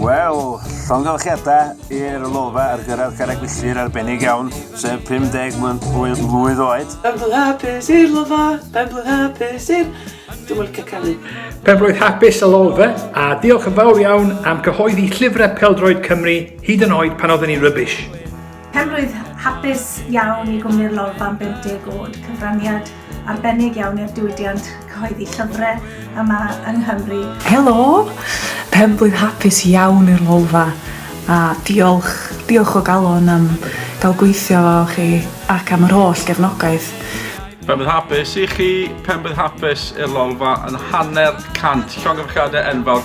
Wel, llongyfarchiadau i'r lolfa ar gyrraedd carreg filltir arbennig iawn, sef 50 mlwydd, mlwydd oed. Ben blwydd hapus i'r lolfa, ben blwydd hapus i'r... Dwi'n mynd licio canu. Ben blwydd hapus y lolfa, a diolch yn fawr iawn am cyhoeddi llyfrau peldroed Cymru hyd yn oed pan oedden ni rubbish. Penrwydd hapus iawn i Gwmni'r Lolfa am 50 oed, cyfraniad arbennig iawn i'r diwydiant cyhoeddi llyfrau yma yng Nghymru. Helo! Penblwydd hapus iawn i'r Lolfa a diolch, diolch o galon am gael gweithio efo chi ac am yr holl gefnogaeth. Penblwydd hapus i chi, penblwydd hapus i'r Lolfa yn hanner cant llongyfarchiadau enfawr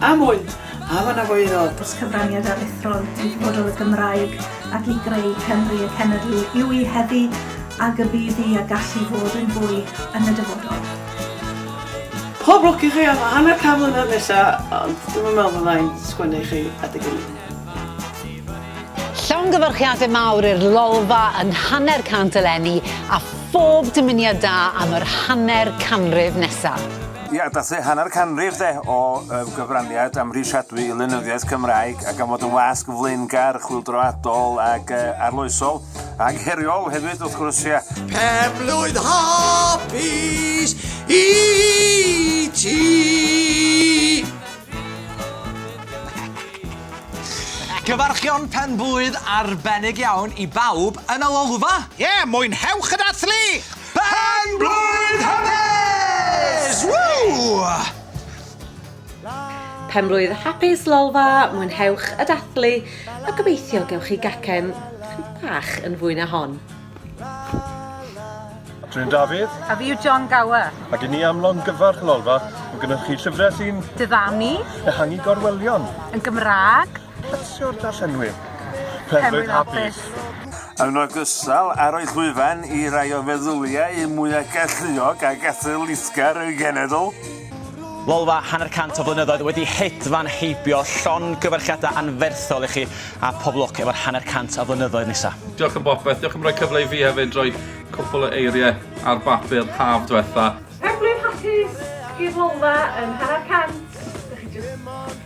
Am wn! Am y Nafoerod! Os cyfraniad aruthrol i ddyfodol y Gymraeg ac i greu Cymru y cenedl yw hi heddi ag y bydd hi a gall hi fod yn fwy yn y dyfodol. Pob lwc i chi am hanner can mlynedd nesa, ond dwi'm yn meddwl fydda i'n sgwennu i chi adeg ynni. Llongyfarchiade mawr i'r Lolfa yn hanner cant eleni a phob dymuniad da am yr hanner canrif nesa. Ia, dath e hanner canrif de o uh, gyfraniad amhrisiadwy i lenyddiaeth Cymraeg ac am fod yn wasg flaengar, chwildroadol ac uh, arloesol ac heriol hefyd wrth gwrs, ia. Pen blwydd hapus i ti! Cyfarchion pen blwydd arbennig iawn i bawb yn y lolfa! Ie, yeah, mwynhewch y dathlu! Pen blwydd hapus! Woo! Pen blwydd hapus Lolfa, mwynhewch y dathlu a gobeithio gewch chi gacen chydig bach yn fwy na hon. Dwi'n Dafydd. A fi yw John Gower. Ac i ni am longyfarch Lolfa, mae gennych chi llyfrau sy'n... Diddanu. Ehangu gorwelion. Yn Gymraeg. Plesio'r darllenwyr. Penrhyn hapus. Yn ogystal, arwydd llwyfan i rai o feddyliau mwyaf galluog ac athletgar y genedl. Lolfa hanner cant o flynyddoedd wedi hedfan heibio llon gyfarchiadau anferthol i chi a pob lwc efo'r hanner cant o flynyddoedd nesa. Diolch am bopeth, diolch am roi cyfle i fi hefyd roi cwpl o eiriau ar bapur haf dwetha. Penblwydd hapus i'r Lolfa yn hanner cant! Dych chi jyst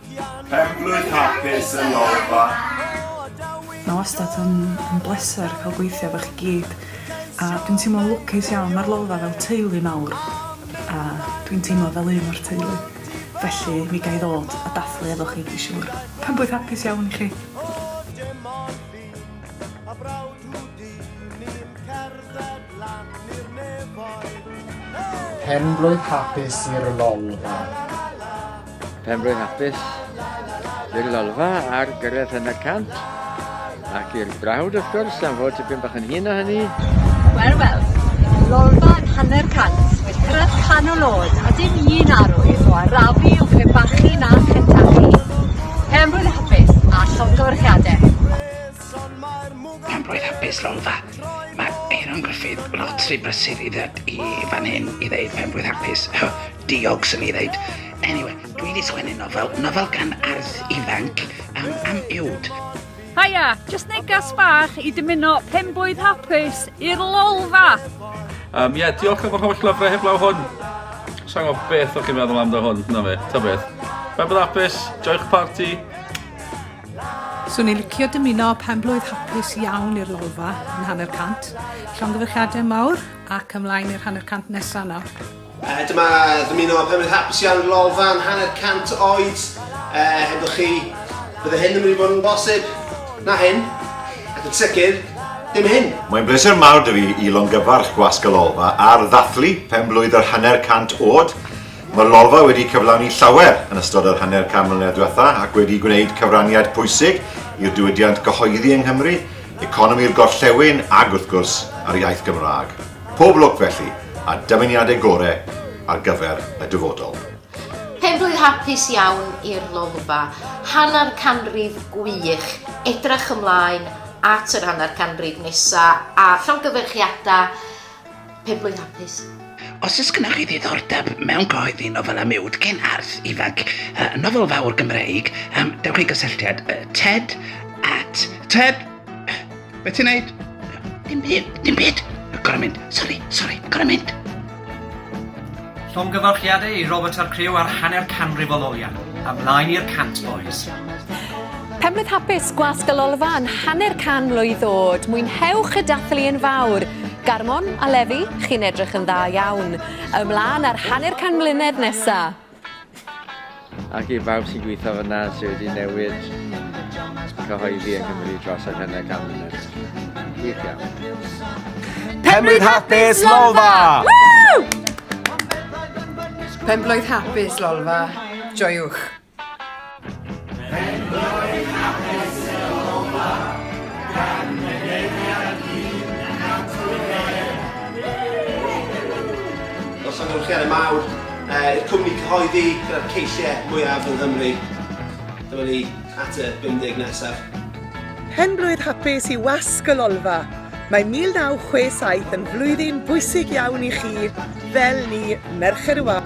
Penblwydd hapus yn ol bach. Mae wastad yn yn bleser cael gweithio efo chi gyd a dwi'n teimlo'n lwcus iawn ma'r Lolfa fel teulu mawr a dwi'n teimlo fel un o'r teulu felly mi ga i ddod a dathlu efo chi dwi siŵr. Penblwydd hapus iawn i chi. Penblwydd hapus i'r Lolfa. Penfro'n hapus i'r lolfa ar gyrraedd hynna cant ac i'r brawd wrth gwrs am fod tipyn bach yn hyn o hynny. Wel, wel, lolfa yn hanner cant wedi cyrraedd canol oed a dim un arwydd o arafu o crebachu na chentachu. Penfro'n hapus a llongyfarchiadau. Penfro'n hapus lolfa. Mae Aaron Griffith lotri brysur i ddod i fan hyn i ddeud penfro'n hapus. Diog, swn i ddeud. Anyway, dwi wedi sgwennu nofel, nofel gan arth ifanc um, am iwd. Haia, just negas bach i dymuno penbwyd hapus i'r lolfa! Um, yeah, diolch am yr holl lyfrau heblaw hwn. Sa'n gwybod beth o'ch chi'n meddwl amdano hwn, na fe, ta beth. Fe bydd apus, joi'ch parti. Swn i'n licio dymuno penblwydd hapus iawn i'r lolfa yn hanner cant. Llongyfarchiadau mawr ac ymlaen i'r hanner cant nesaf nawr. Dyma ddymuno pefyd hapus iawn i lolfa'n hanner cant oed. Hebddo chi, bydde hyn yn mynd i fod yn bosib. Na hyn, ac yn sicr, dim hyn. Mae'n bleser mawr da fi i longyfarch Gwasg y Lolfa ar ddathlu pen blwydd yr hanner cant oed. Mae'r Lolfa wedi cyflawni llawer yn ystod yr hanner can mlynedd diwetha ac wedi gwneud cyfraniad pwysig i'r diwydiant gyhoeddi yng Nghymru, economi'r gorllewin ag wrth gwrs, a'r iaith Gymraeg. Pob lwc felly, a dymuniadau gore ar gyfer y dyfodol. Penblwydd hapus iawn i'r Lolfa. Hanner canrif gwych. Edrych ymlaen at yr hanner canrif nesa a llongyfarchiadau penblwydd hapus. Os oes gennych chi ddiddordeb mewn cyhoeddi nofelau miwd cyn arth ifanc, uh, nofel fawr Gymreig, um, dewch i gysylltiad uh, ted at ted Be ti'n neud? Dim byd, dim byd. Gorau mynd, sori, sori, gorau mynd. Llongyfarchiadau i Robert a'r criw ar hanner canrif o loliau. Ymlaen i'r cant, boys. Penblwydd hapus, gwasg y lolfa yn hanner can mlwydd oed. Mwynhewch y dathlu yn fawr. Garmon a Lefi, chi'n edrych yn dda iawn. Ymlaen ar hanner can mlynedd nesaf. Ac i bawb sy'n gweithio fyna sydd wedi newid cyhoeddi yng Nghymru dros yr hynau gan munud. Gwych iawn. Penblwydd hapus, Lolfa! Penblwydd hapus, Lolfa. Joiwch. Os am ymwch chi ar y mawr, i'r cwmni cyhoeddi gyda'r ceisiau mwyaf yn Nghymru. Dyma ni at y 50 nesaf. Pen-blwydd hapus i Wasg y Lolfa! Mae 1967 yn flwyddyn bwysig iawn i chi fel ni, Merched y Wawr.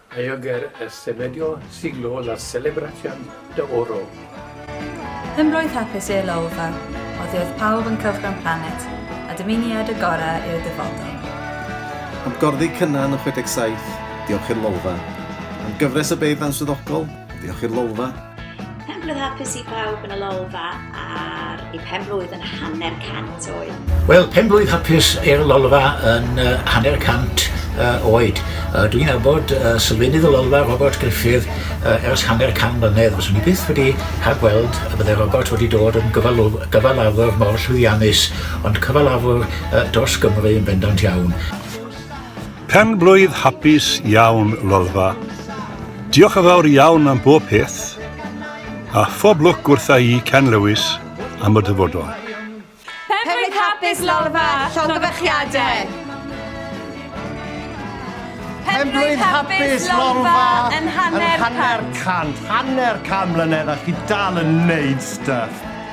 I oger y semedio siglo la celebracion de oro. Hym roedd hapus i'r lolfa, oddi oedd pawb yn cylchgrawn planet, a dymuniad y gorau i'r dyfodol. Am gorddi Cynan yn 67, diolch i'r lolfa. Am gyfres o beirdd answyddogol, Diolch i'r Lolfa. Penblwydd hapus i bawb yn y Lolfa ar ei penblwydd yn hanner cant oed. Wel, penblwydd hapus i'r Lolfa yn uh, hanner cant uh, oed. Uh, Dwi'n abod uh, sylfenydd y Lolfa, Robert Griffith, uh, ers hanner can mlynedd. Fyswn i byth wedi rhagweld y bydde Robert wedi dod yn gyfalafwr mor llwyddiannus, ond cyfalafwr uh, dros Gymru yn bendant iawn. Pen-blwydd hapus iawn Lolfa. Diolch yn fawr iawn am bob peth, a phob lwc wrtha i Ken Lewis am y dyfodol. Pen-blwydd hapus Lolfa, llongyfarchiadau. Pen-blwydd hapus Lolfa yn hanner cant. Hanner cant mlynedd a chi dal yn neud stuff.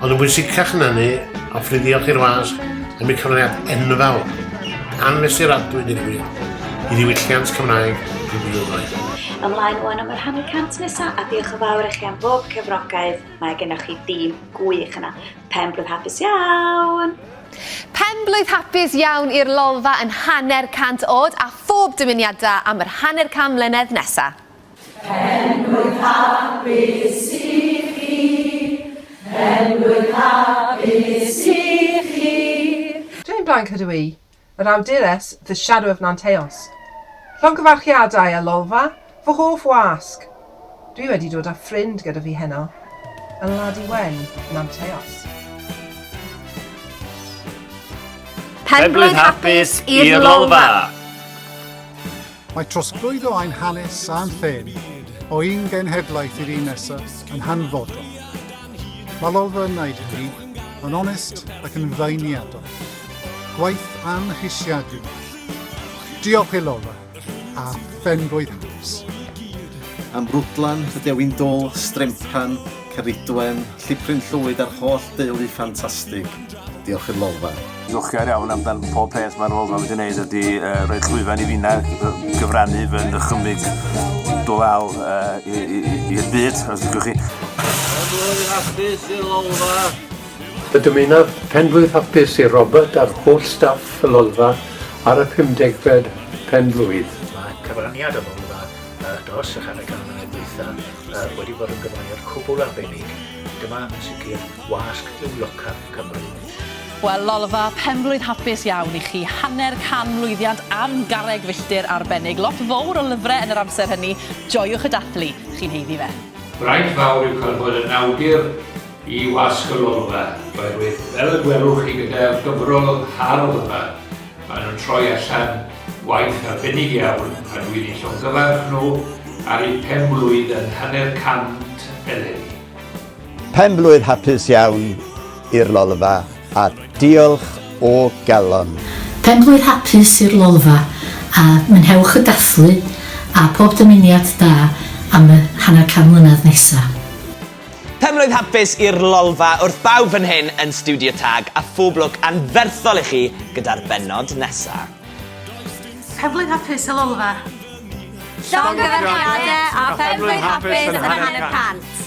Ond yn bwysicach na hynny, hoffwn i ddiolch i'r wasg am eu cyfraniad enfawr, anfesuradwy deg wir, i ddiwylliant Cymraeg y blynyddoedd. Ymlaen wan am yr hanner cant nesa a diolch yn fawr i chi am bob cefnogaeth. Mae gennych chi dîm gwych yna. Pen blwydd hapus iawn! Pen blwydd hapus iawn i'r lolfa yn hanner cant od a phob dymuniada am yr hanner can mlynedd nesa. Hen fwynha bys i chi, hen fwynha bys i chi. Dwi yn Blaen Cadw I, yr awdures The Shadow of Nanteos. Llongyfarchiadau a Lolfa, fy hoff wasg! Dwi wedi dod â ffrind gyda fi heno, yn Ladi Wen, Nanteos. Penblwydd hapus i'r Lolfa! Mae trosglwyddo ein hanes a'n llên o un genhedlaeth i'r un nesa yn hanfodol. Mae Lolfa yn wneud hynny yn onest ac yn feirniadol. Gwaith amhrisiadwy. Diolch i Lolfa a Phenblwydd Hanes. Am Rwdlan, y Dewin Dôl, Stremphan, Ceridwen, Llipryn Llwyd a'r holl deulu ffantastig. Diolch i'r Lolfa. Diolchgar iawn amdan pob peth mae'r Lolfa wedi gwneud ydy uh, rhoi llwyfan i finna gyfrannu fy nychymyg dwal uh, i'r byd, os ydych chi. Blwyddyn hapus i'r Lolfa. Y dymunaf penblwydd hapus i Robert a'r holl staff y Lolfa ar y 50fed penblwydd. Mae cyfraniad y Lolfa uh, dros y hanner gan mlynedd dwytha uh, wedi bod yn gyfraniad cwbl arbennig. Dyma yn sicr Wasg Niwlocaf, Cymru. Wel, Lolfa, penblwydd hapus iawn i chi. Hanner can lwyddiant am garreg filltir arbennig. Lot fowr o lyfrau yn yr amser hynny. Joiwch y dathlu. Chi'n heiddi fe. Braint fawr yw cael bod yn awdur i Wasg y Lolfa, oherwydd fel y gwelwch chi gyda'r gyfrol hardd yma, maen nhw'n troi allan waith arbennig iawn a dwi'n eu llongyfarch nhw ar eu penblwydd yn hanner cant eleni. Pen-blwydd hapus iawn i'r Lolfa a diolch o galon. Pen-blwydd hapus i'r Lolfa a mwynhewch y dathlu a pob dymuniad da am y hanner can mlynedd nesa. Pen-blwydd hapus i'r Lolfa wrth bawb fan hyn yn Studio Tag a phob lwc anferthol i chi gyda'r bennod nesa. Pen-blwydd hapus y Lolfa. Llongyfarchiade a phen-blwydd hapus yn y hanner cant.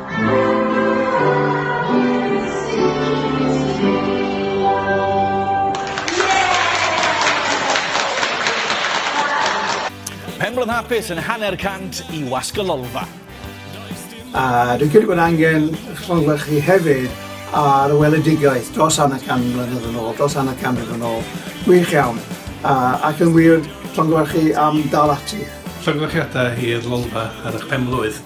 Penblwdd hapus yn hanner cant i Wasg y Lolfa. A dwi'n credu bod angen llongyfarchu hefyd ar weledigaeth dros hanner can mlynedd yn ôl, dros hanner can mlynedd yn ôl. Gwych iawn. A, ac yn wir, llongyfarchu am dal ati. Llongyfarchiadau i'r Lolfa ar eich penblwydd.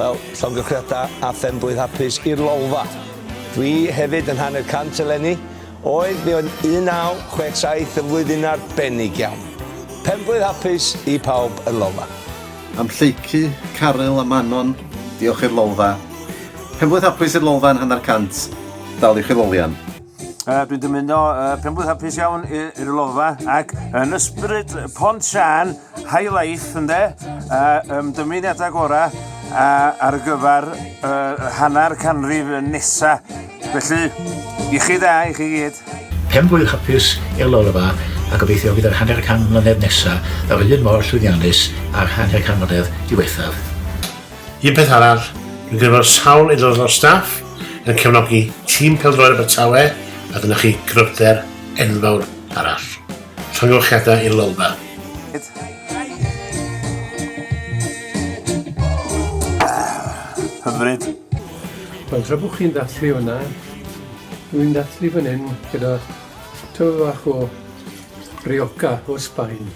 Wel, llongyflliada a phenblwydd hapus i'r Lolfa. Dwi hefyd yn hanner cant eleni, oedd mi oedd 1967 yn flwyddyn arbennig iawn. Penblwydd hapus i pawb yn Lolfa. Am Lleucu, Caryl a Manon, diolch i'r Lolfa. Penblwydd hapus i'r Lolfa yn hanner cant, dal i chwilolian. Uh, dwi'n dymuno uh, penblwydd hapus iawn i'r lofa ac yn ysbryd pont sian high life ynde uh, um, dymuniadau gorau uh, ar gyfer uh, hanner canrif nesa felly i chi dda i chi gyd penblwydd hapus i'r lofa a gobeithio fydd yr hanner can mlynedd nesa yr un mor llwyddiannus a'r hanner can mlynedd diwethaf Un peth arall, dwi'n credu bod sawl aelod o'r staff yn cefnogi tîm pêl-droed Abertawe a dyna chi gryfder enfawr arall. Llongyfarchiadau i'r Lolfa. Hyfryd. Wel, tra bod chi'n dathlu hwnna, dwi'n dathlu fan hyn gyda tyfu fach o Rioja o Sbaen.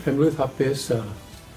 Penblwydd hapus a